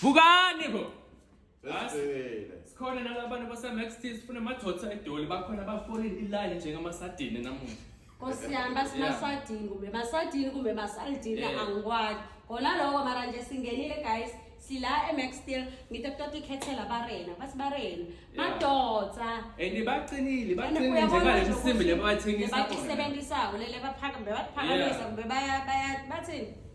vukani bo sikhona nalabantu basamax t sifuna amadoda edoli bakhona bafolile iline njengamasadini namuhla nkosi yami basimasadini kumbe basadini kumbe basalidini angikwazi kona loko mara nje singenile guys sila emax steel ngithe kutota ikhethela barena bathi barena madoda and baqinile baqinile nje ngale msimbi lebathengisa bathi sebenzisako lele baphaka mbe bathi phakamisa mbe baya bathini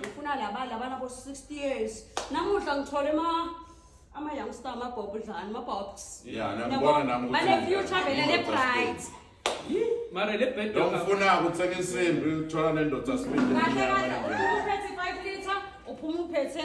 ngifuna laba laba nabo 60 years namuhla ngithole ama ama youngster ama bob dlani ama bobs Yeah, nami ngibona nami ukuthi- bane future vele le bright mara le bed Lo ngifuna ukuthenga insimbi uthola nendoda sibindi. kahle kahle uphuma uphethe 5 liter uphuma uphethe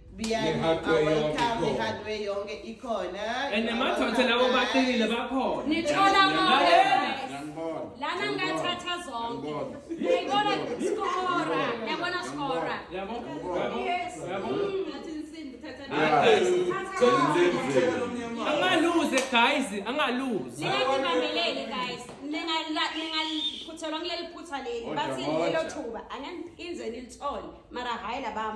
biyaniawelcomehardway yonke ikhona and namathonse lawo baqinile bakhona nithola konke lana ngathatha zonke yayibona skora yabona skora yabo yabo yabo angaluze guys angaluze ningakimamelele guys ningaphuthelwa kuleli phutha leli bathi lelo thuba anganiphinze nilithole mara hayi labam